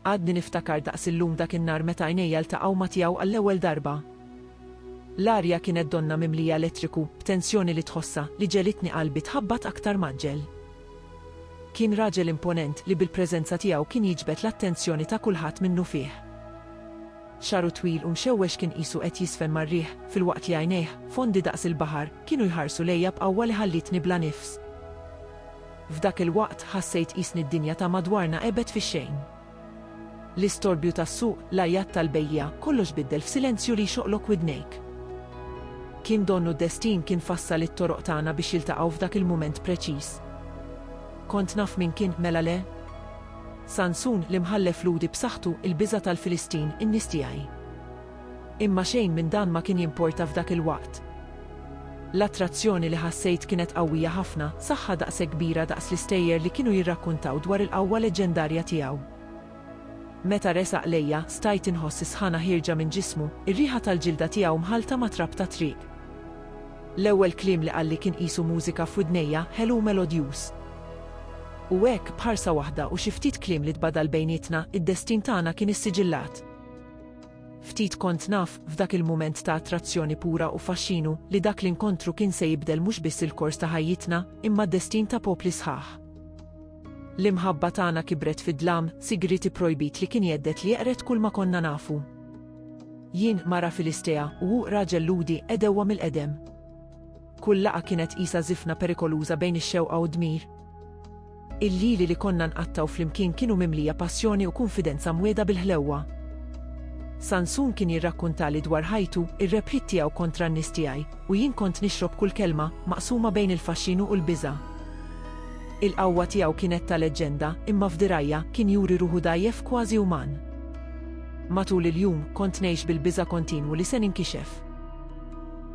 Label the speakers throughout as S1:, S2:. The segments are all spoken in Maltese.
S1: Għadni niftakar daqs illum dak in-nhar meta għajnejja ltaqgħu ma' tiegħu għall-ewwel darba. L-arja kienet donna mimlija elettriku, b'tensjoni li tħossha, li ġegħlitni qalbi tħabbat aktar mgħaġġel. Kien raġel imponent li bil-preżenza tiegħu kien jiġbed l-attenzjoni ta' kulħadd minnufih. Xagħru twil u mxewwex kien qisu qed jiżfen mar-riħ, filwaqt li għajnejh, fondi daqs il-baħar, kienu jħarsu lejja b'qawwa li ħallietni bla nifs. F'dak il-waqt ħassejt qisni d-dinja ta' madwarna għebet fix-xejn. L-istorbju tas-suq, l-għajat tal-bejjiegħa, kollox biddel f'silenzju li jxoqlok widnejk. Kien donnu d-destin kien fassal it-toroq tagħna biex jiltaqgħu f'dak il-mument preċiż. Kont naf min kien, mela le? Sansun, l-imħallef Lhudi b'saħħtu, il-biża' tal-Filistin, in-nies tiegħi. Imma xejn minn dan ma kien jimporta f'dak il-waqt. L-attrazzjoni li ħassejt kienet qawwija ħafna, saħħa daqshekk kbira daqs l-istejjer li kienu jirrakkuntaw dwar il-qawwa leġġendarja tiegħu. Meta resaq lejja, stajt inħoss is-sħana ħierġa minn ġismu, ir-riħa tal-ġilda tiegħu mħallta ma' trab tat-triq. L-ewwel kliem li qalli kien qisu mużika f'widnejja, ħelu u melodjuż. U hekk, b'ħarsa waħda u xi ftit kliem li tbadal bejnietna, id-destin tagħna kien issiġillat. Ftit kont naf, f'dak il-mument ta' attrazzjoni pura u faxxinu, li dak l-inkontru kien se jibdel mhux biss il-kors ta' ħajjitna, imma d-destin ta' popli sħaħ. L-imħabba tagħna kibret fi dlam, sigriet ipprojbit li kien jgħeddet li jeqred kulma konna nafu. Jien, mara Filistea, u hu, raġel Lhudi, għedewwa mill-qedem. Kull laqgħa kienet qisha żifna perikoluża bejn ix-xewqa u d-dmir. Il-lili li konna nqattgħu flimkien kienu mimlija passjoni u kunfidenza mwiegħda bil-ħlewwa. Sansun kien jirrakkuntali dwar ħajtu, ir-rebħiet tiegħu kontra n-nies tiegħi, u jien kont nixrob kull kelma, maqsuma bejn il-faxxinu u l-biża'. Il-qawwa tiegħu kienet ta' leġġenda, imma f'dirgħajja, kien juri ruħu dgħajjef kważi uman. Matul il-jum, kont ngħix bil-biża' kontinwu li se ninkixef.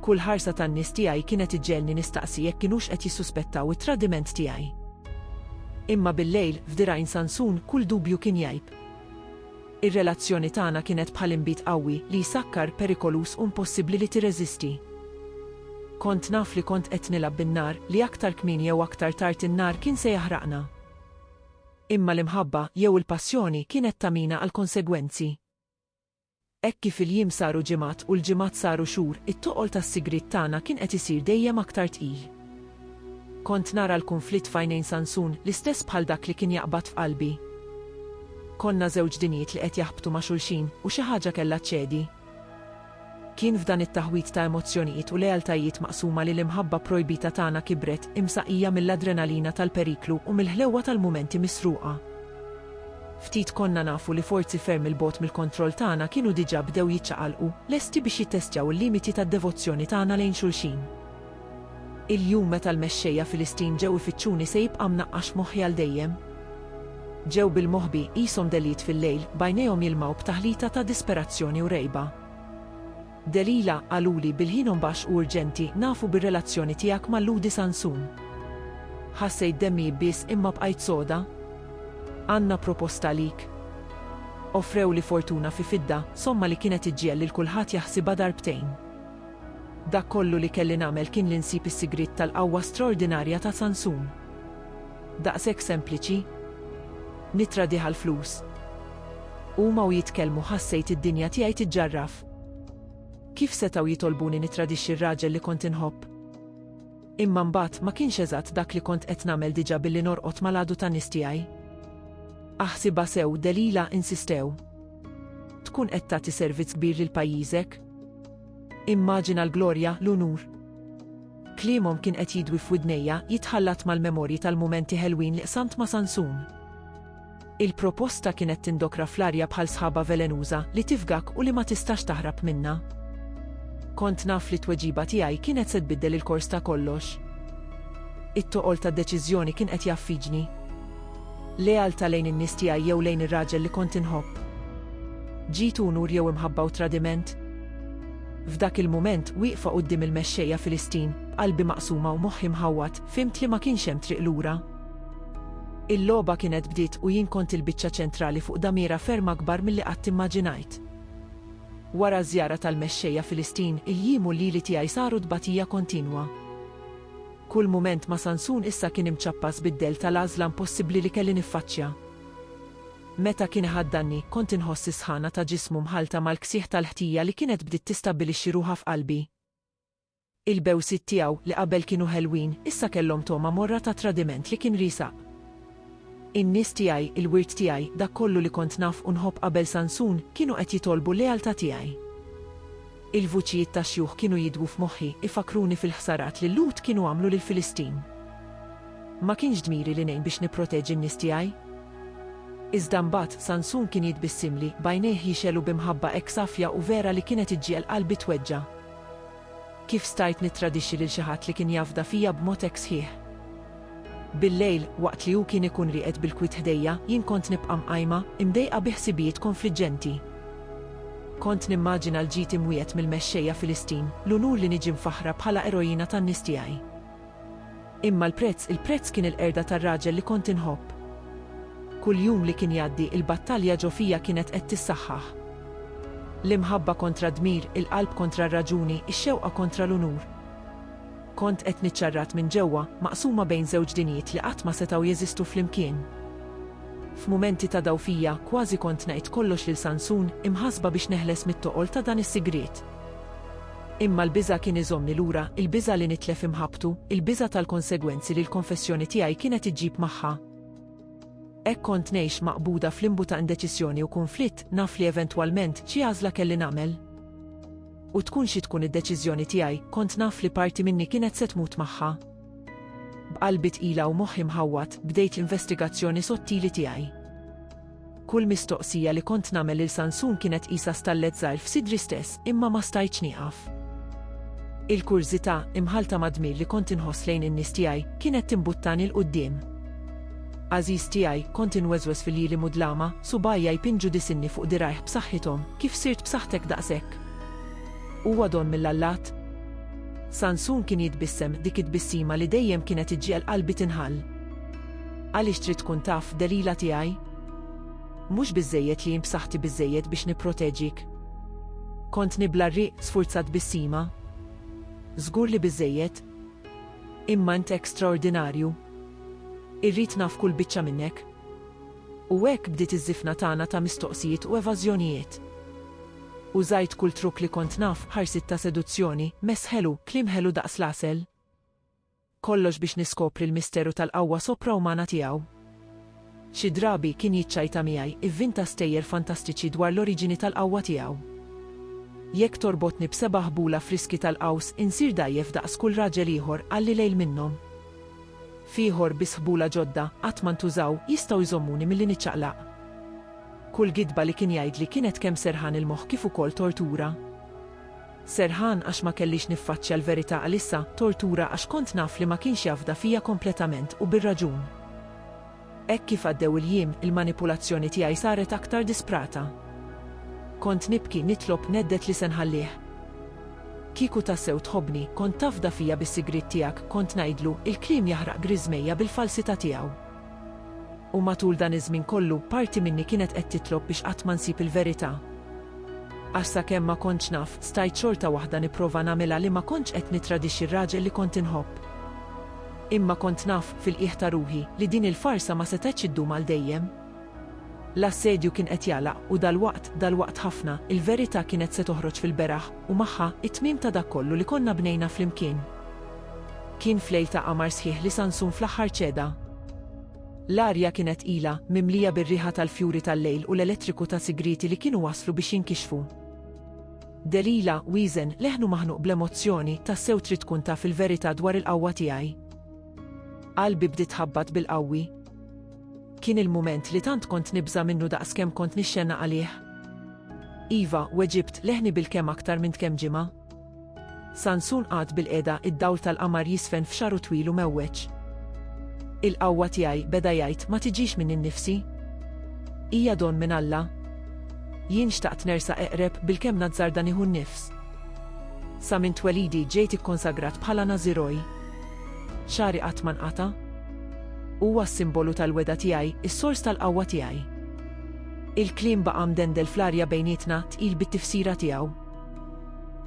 S1: Kull ħarsa tan-nies tiegħi kienet iġġegħelni nistaqsi jekk kinux qed jissuspettaw it-tradiment tiegħi. Imma bil-lejl, f'dirgħajn Sansun, kull dubju kien jgħib. Ir-relazzjoni tagħna kienet bħal inbid qawwi li jsakkar, perikoluż u mpossibbli li tirreżisti. Kont naf li kont qed nilgħab bin-nar, li aktar kmieni jew aktar tard in-nar kien se jaħraqna. Imma l-imħabba, jew il-passjoni, kienet tagħmina għall-konsegwenzi. Hekk kif il-jiem saru ġimgħat u l-ġimgħat saru xhur, it-toqol tas-sigriet tagħna kien qed isir dejjem aktar tqil. Kont nara l-kunflitt f'għajnejn Sansun l-istess bħal dak li kien jaqbad f'qalbi. Konna żewġ dinjiet li qed jaħbtu ma' xulxin u xi ħaġa kellha ċċedi. Kien f'dan it-taħwid ta' emozzjonijiet u lealtajiet maqsuma li l-imħabba pprojbita tagħna kibret, imsaqija mill-adrenalina tal-periklu u mill-ħlewwa tal-mumenti misruqa. Ftit konna nafu li forzi ferm 'il bogħod mill-kontroll tagħna kienu diġà bdew jiċċaqalqu, lesti biex jittestjaw il-limiti tad-devozzjoni tagħna lejn xulxin. Il-jum meta l-mexxejja Filistin ġew ifittxuni se jibqa' mnaqqax f'moħħi għal dejjem. Ġew bil-moħbi, qishom deliet fil-lejl, b'għajnejhom jilmgħu b'taħlita ta' disperazzjoni u rgħiba. Delilah, Qaluli bil-ħin u mbaxx u urġenti nafu bir-relazzjoni tiegħek ma' Lhudi Sansun. Ħassejt demmi jibbies imma bqajt soda. Għandna proposta għalik. Offrewli fortuna fi fidda, somma li kienet iġġiegħel lil kulħadd jaħsibha darbtejn. Dak kollu li kelli nagħmel kien li nsib is-sigriet tal-qawwa straordinarja ta' Sansun. Daqshekk sempliċi? Nittradih għall-flus? Huma u jitkellmu ħassejt id-dinja tiegħi tiġġarraf. Kif setgħu jitolbuni nittradixxi r-raġel li kont inħobb? Imma mbagħad ma kienx eżatt dak li kont qed nagħmel diġà billi norqod mal-għadu tan-nies tiegħi. Aħsibha sew, Delila, insistew. Tkun qed tagħti servizz kbir lil pajjiżek? Immaġina l-glorja, l-unur. Kliemhom kien qed jidwi f'widnejja, jitħallat mal-memorji tal-mumenti ħelwin li qsamt ma' Sansun. Il-proposta kienet tindokra fl-arja bħal sħaba velenuża li tifgak u li ma tistax taħrab minnha. Kont naf li t-tweġiba tiegħi kienet se tbiddel il-kors ta' kollox. It-toqol tad-deċiżjoni kien qed jaffiġni. Lealtà lejn in-nies tiegħi jew lejn ir-raġel li kont inħobb. Ġid unur jew imħabba u tradiment. F'dak il-mument wieqfa quddiem il-mexxejja Filistin, qalbi maqsuma u moħħi mħawwad, fhimt li ma kienx hemm triq lura. Il-logħba kienet bdiet u jien kont il-biċċa ċentrali fuq damiera ferm akbar milli qatt immaġinajt. Wara ż-żjara tal-Mexxejja Filistin, il-jiem u l-lili tiegħi saru tbatija kontinwa. Kull mument ma' Sansun issa kien imċappas bid-dell tal-għażla impossibbli li kelli niffaċċja. Meta kien iħaddanni, kont inħoss is-sħana ta' ġismu mħallta mal-ksieħ tal-ħtija li kienet bdiet tistabbilixxi ruħha f'qalbi. Il-bewsiet tiegħu, li qabel kienu ħelwin, issa kellhom togħma morra ta' tradiment li kien riesaq. In-nies tiegħi, il-wirt tiegħi, dak kollu li kont naf u nħobb qabel Sansun, kienu qed jitolbu l-lealtà tiegħi. Il-vuċijiet tax-xjuħ kienu jidwu f'moħħi, ifakkruni fil-ħsarat li l-Lhud kienu għamlu lill-Filistin. Ma kienx dmiri li ngħin biex nipproteġi n-nies tiegħi? Iżda mbagħad, Sansun kien jitbissimli, b'għajnejh jixgħelu bi mħabba hekk safja u vera li kienet iġġiegħel qalbi tweġġa'. Kif stajt nittradixxi lil xi ħadd li kien jafda fija b'mod hekk sħiħ? Billejl, waqt li hu kien ikun rieqed bil-kwiet ħdejja, jien kont nibqa' mqajma, imdejqa bi ħsibijiet konfliġġenti. Kont nimmaġina l-ġid imwiegħed mill-mexxejja Filistin, l-unur li niġi mfaħħra bħala eroina tan-nies tiegħi. Imma l-prezz, il-prezz kien il-qerda tar-raġel li kont inħobb. Kull jum li kien jgħaddi, il-battalja ġo fija kienet qed tissaħħaħ. L-imħabba kontra d-dmir, il-qalb kontra r-raġuni, ix-xewqa kontra l-unur. Kont qed niċċarrat minn ġewwa, maqsuma bejn żewġ dinjiet li qatt ma setgħu jeżistu flimkien. F'mumenti ta' dgħufija, kważi kont ngħid kollox lil Sansun, imħassba biex neħles mit-toqol ta' dan is-sigriet. Imma l-biża' kien iżommni lura, il-biża' li nitlef imħabbtu, il-biża' tal-konsegwenzi li l-konfessjoni tiegħi kienet iġġib magħha. Hekk kont ngħix maqbuda f'limbu ta' indeċiżjoni u kunflitt, naf li eventwalment, xi għażla kelli nagħmel. U tkun xi tkun id-deċiżjoni tiegħi, kont naf li parti minni kienet se tmut magħha. B'qalbi tqila u moħħi mħawwad, bdejt l-investigazzjoni sottili tiegħi. Kull mistoqsija li kont nagħmel lil Sansun kienet qisha stallet żgħir f'sidri stess, imma ma stajtx nieqaf. Il-kurżità, imħallta mad-dmir li kont inħoss lejn in-nies tiegħi, kienet timbuttani 'l quddiem. Għażiż tiegħi, kont inweżweż fil-jili mudlama, subgħajja jpinġu disinni fuq dirgħajh b'saħħithom, kif sirt b'saħħtek daqshekk? Huwa don mill-allat? Sansun kien jitbissem, dik it-tbissima li dejjem kienet iġġiegħel qalbi tinħall. Għaliex trid tkun taf, Delila tiegħi? Mhux biżżejjed li jien b'saħħti biżżejjed biex nipproteġik? Kont nibla' r-riq, sfurzat bissima. Żgur li biżżejjed. Imma int hekk straordinarju. Irrid naf kull biċċa minnek. U hekk bdiet iż-żifna tagħna ta' mistoqsijiet u evażjonijiet. Użajt kull trukk li kont naf, ħarsiet ta' seduzzjoni, mess ħelu, kliem ħelu daqs l-għasel. Kollox biex niskopri l-misteru tal-qawwa sopraumana tiegħu. Xi drabi, kien jiċċajta miegħi, ivvinta stejjer fantastiċi dwar l-oriġini tal-qawwa tiegħu. Jekk torbotni b'seba' ħbula friski tal-qaws, insir dgħajjef daqs kull raġel ieħor, qalli lejl minnhom. F'ieħor, biss ħbula ġodda, qatt ma ntużaw, jistgħu jżommuni milli niċċaqlaq. Kull gidba li kien jgħidli kienet kemm serħan il-moħħ kif ukoll tortura. Serħan għax ma kellix niffaċċja l-verità għalissa, tortura għax kont naf li ma kienx jafda fija kompletament u bir-raġun. Hekk kif għaddew il-jiem, il-manipulazzjoni tiegħi saret aktar disprata. Kont nibki, nitlob, nedded li se nħallih. Kieku tassew tħobbni, kont tafda fija bis-sigriet tiegħek, kont ngħidlu, il-kliem jaħraq griżmejja bil-falsità tiegħu. U matul dan iż-żmien kollu, parti minni kienet qed titlob biex qatt ma nsib il-verità. Għax sakemm ma kontx naf, stajt xorta waħda nipprova nagħmilha li ma kontx qed nittradixxi r-raġel li kont inħobb. Imma kont naf, fil-qiegħ ta' ruħi, li din il-farsa ma setgħetx iddum għal dejjem. L-assedju kien qed jagħlaq, u dalwaqt, dalwaqt ħafna, il-verità kienet se toħroġ fil-beraħ, u magħha, it-tmiem ta' dak kollu li konna bnejna flimkien. Kien f'lejl ta' qamar sħiħ li Sansun fl-aħħar ċeda. L-arja kienet tqila, mimlija bir-riħa tal-fjuri tal-lejl u l-elettriku ta' sigrieti li kienu waslu biex jinkixfu. Delilah, wieżen, leħnu maħnuq bl-emozzjoni, tassew trid tkun taf il-verità dwar il-qawwa tiegħi? Qalbi bdiet tħabbat bil-qawwi. Kien il-mument li tant kont nibża' minnu daqs kemm kont nixxena għalih. Iva, weġibt, leħni bil-kemm aktar minn tkemm ġimgħa. Sansun qagħad bilqiegħda, id-dawl tal-qamar jiżfen f'xagħru twil u mgħewweġ. Il-qawwa tiegħi, beda jgħid, ma tiġix minni nnifsi. Hija don minn Alla. Jien xtaqt nersaq eqreb, bilkemm nazzarda nieħu n-nifs. Sa minn twelidi ġejt ikkonsagrat bħala Nażiroj. Xagħri qatt ma nqata'. Huwa s-simbolu tal-wegħda tiegħi, is-sors tal-qawwa tiegħi. Il-kliem baqa' mdendel fl-arja bejnietna, tqil bit-tifsira tiegħu.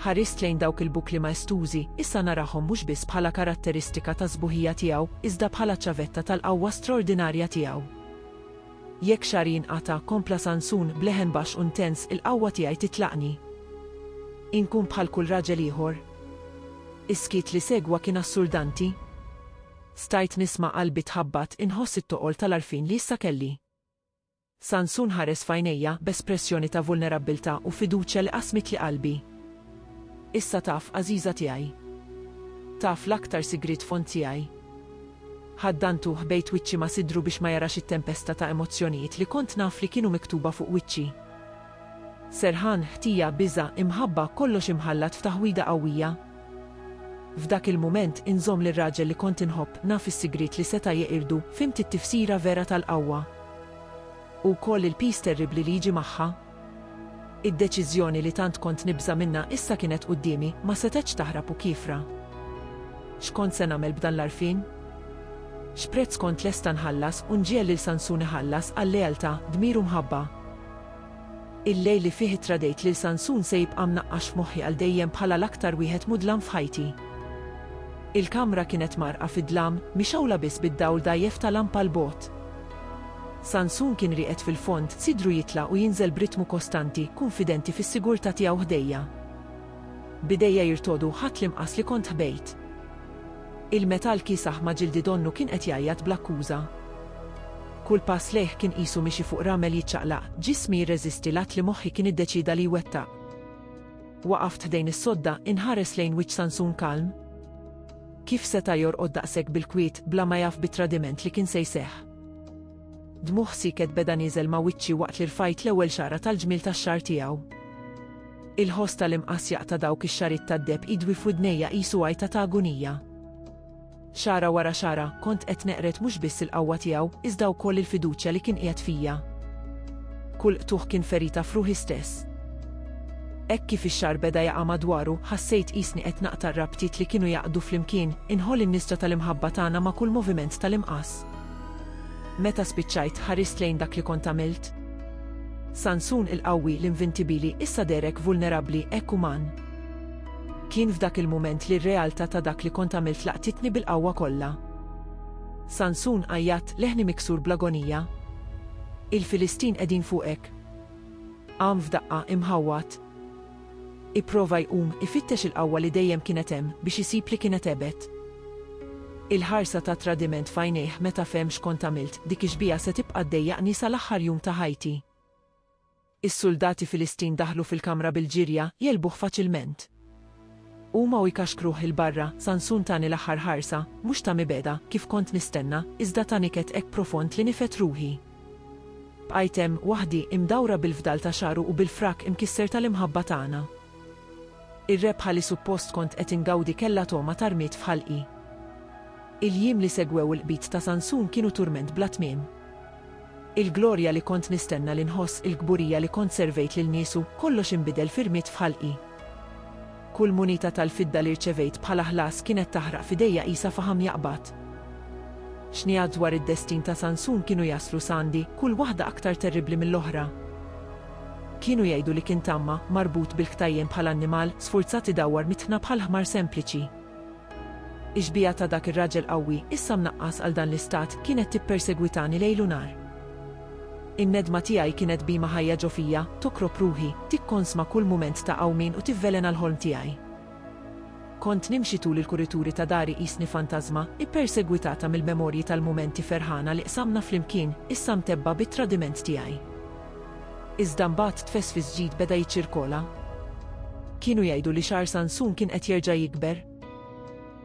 S1: Ħarist lejn dawk il-bukli maestużi, issa narahom mhux biss bħala karatteristika tas-sbuħija tiegħu, iżda bħala ċavetta tal-qawwa straordinarja tiegħu. Jekk xagħri jinqata', kompla Sansun, b'leħen baxx u ntens, il-qawwa tiegħi titlaqni. Inkun bħal kull raġel ieħor. Is-skiet li segwa kien assurdanti. Stajt nisma' qalbi tħabbat, inħoss it-toqol tal-għarfien li issa kelli. Sansun ħares f'għajnejja b'espressjoni ta' vulnerabbiltà u fiduċja li qasmitli qalbi. Issa taf, għażiża tiegħi. Taf l-aktar sigriet fond tiegħi. Ħaddantu u ħbejt wiċċi ma' sidru biex ma jarax it-tempesta ta' emozzjonijiet li kont naf li kienu miktuba fuq wiċċi. Serħan, ħtija, biża', imħabba, kollox imħallat f'taħwida qawwija. F'dak il-mument inżomm lir-raġel li kont inħobb, naf is-sigriet li seta' jeqirdu, fhimt it-tifsira vera tal-qawwa. U wkoll il-piż terribbli li jiġi magħha. Id-deċiżjoni li tant kont nibża' minnha issa kienet quddiemi, ma setgħetx taħrab u kiefra. X'kont se nagħmel b'dan l-għarfien? X'prezz kont lesta nħallas u nġiegħel lil Sansun iħallas għal lealtà, dmir u mħabba? Il-lejl li fih ittradejt lil Sansun se jibqa' mnaqqax f'moħħi għal dejjem bħala l-aktar wieħed mudlam f'ħajti. Il-kamra kienet mgħarrqa fid-dlam, mixgħula biss bid-dawl dgħajjef ta' lampa 'l bogħod. Sansun kien rieqed fil-fond, sidru jitla' u jinżel b'ritmu kostanti, kunfidenti fis-sigurtà tiegħu ħdejja. B'idejja jirtogħdu ħadt l-imqas li kont ħbejt. Il-metall kiesaħ ma' ġildi donnu kien qed jgħajjat bl-akkuża. Kull pass lejh kien qisu miexi fuq ramel jiċċaqlaq, ġismi jirreżisti l-att li moħħi kien iddeċieda li jwettaq. Waqaft ħdejn is-sodda, inħares lejn wiċċ Sansun kalm. Kif seta' jorqod daqshekk bil-kwiet, bla ma jaf bit-tradiment li kien se jseħħ? Dmugħ siket beda nieżel ma' wiċċi waqt li rfajt l-ewwel xagħra tal-ġmiel tax-xagħar tiegħu. Il-ħoss tal-imqass jaqta' dawk ix-xagħriet tad-deheb idwi f'widnejja qisu għajta ta' agunija. Xagħra wara xagħra, kont qed neqred mhux biss il-qawwa tiegħu, iżda wkoll il-fiduċja li kien qiegħed fija. Kull qtugħ kien ferita f'ruħi stess. Hekk kif ix-xagħar beda jaqa' madwaru, ħassejt qisni qed naqta' r-rabtiet li kienu jgħaqqdu flimkien, inħoll in-nisġa tal-imħabba tagħna ma' kull moviment tal-imqass. Meta spiċċajt, ħarist lejn dak li kont għamilt? Sansun il-qawwi, l-invintibili, issa deherek vulnerabbli, hekk uman. Kien f'dak il-mument li r-realtà ta' dak li kont għamilt laqtitni bil-qawwa kollha. Sansun għajjat, leħni miksur bl-agonija. Il-Filistin qegħdin fuqek! Qam f'daqqa, imħawwad. Ipprova jqum ifittex il-qawwa li dejjem kienet hemm biex isib li kienet għebet. Il-ħarsa ta' tradiment f'għajnejh meta fehem x'kont għamilt, dik ix-xbieha se tibqa' ddejjaqni sal-aħħar jum ta' ħajti. Is-suldati Filistin daħlu fil-kamra bil-ġirja, jegħlbuh faċilment. Huma u jkaxkruh 'il barra, Sansun tani l-aħħar ħarsa, mhux ta' mibegħda, kif kont nistenna, iżda tani kett hekk profond li nifgħet ruħi. Bqajt hemm, waħdi, imdawra bil-fdal ta' xagħru u bil-frak imkisser tal-imħabba tagħna. Ir-rebħa li suppost kont qed ingawdi kellha togħma ta' rmied f'ħalqi. Il-jiem li segwew il-qbid ta' Sansun kienu turment bla tmiem. Il-glorja li kont nistenna li nħoss, il-kburija li kont servejt lil niesu, kollox inbidel fi rmied f'ħalqi. Kull munita tal-fidda li rċevejt bħala ħlas kienet taħraq f'idejja qisha faħam jaqbad. Xnigħat dwar id-destin ta' Sansun kienu jaslu sgħandi, kull waħda aktar terribbli mill-oħra. Kienu jgħidu li kien tama, marbut bil-ktajjen bħal annimal, sfurzat idawwar mit-tħna bħal ħmar sempliċi. Ix-xbieha ta' dak ir-raġel qawwi, issa mnaqqas għal dan l-istat, kienet tippersegwitani lejl u nhar. In-nedma tiegħi kienet bhima ħajja ġo fija, tokrob ruħi, tikkonsma kull mument ta' qawmien u tivvelena l-ħolm tiegħi. Kont nimxi tul il-kurituri ta' dari qisni fantażma, ippersegwitata mill-memorji tal-mumenti ferħana li qsamna flimkien, issa mtebbgħa bit-tradiment tiegħi. Iżda mbagħad tfesfis ġid beda jiċċirkola. Kienu jgħidu li xagħar Sansun kien qed jerġa' jikber.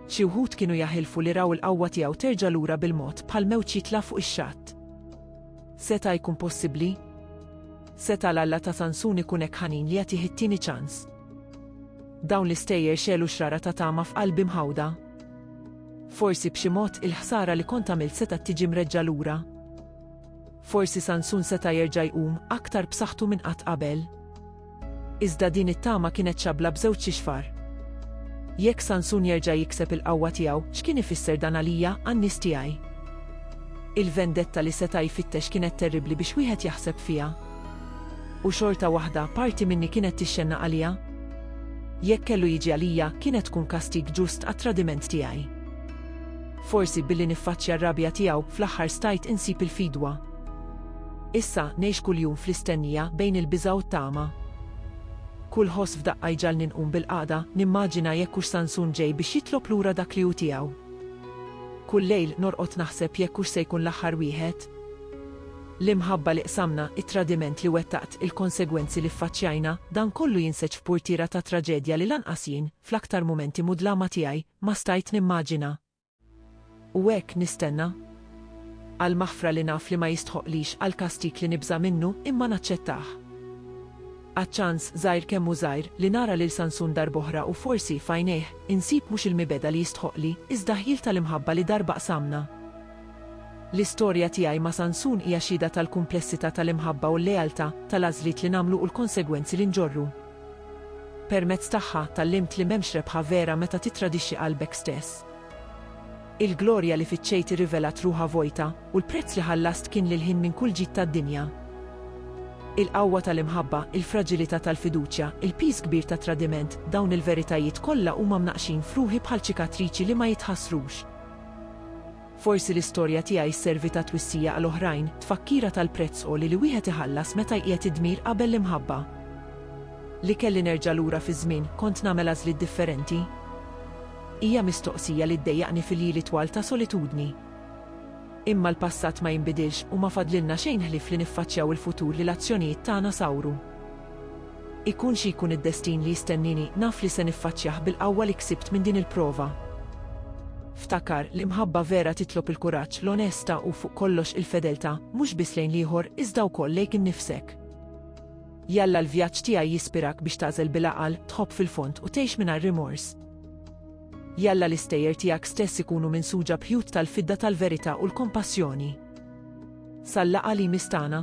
S1: Xi wħud kienu jaħilfu li raw il-qawwa tiegħu terġa' lura bil-mod bħal mewġ jitla' fuq ix-xatt. Seta' jkun possibbli? Seta' l-Alla ta' Sansun ikun hekk ħanin li jagħtih it-tieni ċans? Dawn l-istejjer xegħlu xrara ta' tama f'qalbi mħawda. Forsi b'xi mod il-ħsara li kont għamilt setgħet tiġi mreġġa' lura. Forsi Sansun seta' jerġa' jqum aktar b'saħħtu minn qatt qabel. Iżda din it-tama kienet xabbla b'żewġ ixfar. Jekk Sansun jerġa' jikseb il-qawwa tiegħu, x'kien ifisser dan għalija, għan-nies tiegħi? Il-vendetta li seta' jfittex kienet terribbli biex wieħed jaħseb fiha. U xorta waħda, parti minni kienet tixxennaq għalija. Jekk kellu jiġi għalija, kienet tkun kastig ġust għat-tradiment tiegħi. Forsi billi niffaċċja r-rabja tiegħu, fl-aħħar stajt insib il-fidwa. Issa, ngħix kuljum fl-istennija, bejn il-biża' u t-tama. Kull ħoss f'daqqa jġagħalni nqum bil-qagħda, nimmaġina jekk hux Sansun ġej biex jitlob lura dak li hu tiegħu. Kull lejl, norqod naħseb jekk hux se jkun l-aħħar wieħed. L-imħabba li qsamna, it-tradiment li wettaqt, il-konsegwenzi li ffaċċjajna, dan kollu jinseġ f'purtiera ta' traġedja li lanqas jien, fl-aktar mumenti mudlama tiegħi, ma stajt nimmaġina. U hekk nistenna. Għall-maħfra li naf li ma jistħoqqlix, għall-kastig li nibża' minnu, imma naċċettah. Għaċ-ċans, żgħir kemm hu żgħir, li nara lil Sansun darb'oħra u forsi, f'għajnejh, insib mhux il-mibegħda li jistħoqqli, iżda ħjiel tal-imħabba li darba qsamna. L-istorja tiegħi ma' Sansun hija xhieda tal-kumplessità tal-imħabba u l-lealtà, tal-għażliet li nagħmlu u l-konsegwenzi li nġorru. Permezz tagħha tgħallimt li m'hemmx rebħa vera meta tittradixxi qalbek stess. Il-glorja li fittxejt irrivelat ruħha vojta, u l-prezz li ħallast kien li l-ħin minn kull ġid tad-dinja. Il-qawwa tal-imħabba, il-fraġilità tal-fiduċja, il-piż kbir tat-tradiment, dawn il-veritajiet kollha huma mnaqqxin f'ruħi bħal ċikatriċi li ma jitħassrux. Forsi l-istorja tiegħi sservi ta' twissija għal oħrajn, tfakkira tal-prezz għoli li wieħed iħallas meta jqiegħed id-dmir qabel l-imħabba. Li kelli nerġa' lura fiż-żmien, kont nagħmel għażliet differenti? Hija mistoqsija li ddejjaqni fil-jili twal ta' solitudni. Imma l-passat ma jinbidilx u ma fadlilna xejn ħlief li niffaċċjaw il-futur li l-azzjonijiet tagħna sawru. Ikun xi jkun id-destin li jistennieni, naf li se niffaċċjah bil-qawwa li ksibt minn din il-prova. Ftakar, l-imħabba vera titlob il-kuraġġ, l-onesta u, fuq kollox, il-fedeltà, mhux biss lejn l-ieħor, iżda wkoll lejk innifsek. Jalla l-vjaġġ tiegħi jispirak biex tagħżel bil-għaqal, tħobb fil-fond u tgħix mingħajr rimors. Jalla l-istejjer tiegħek stess ikunu minsuġa b'ħjut tal-fidda tal-verità u l-kompassjoni. Sal-laqgħa li jmiss tagħna.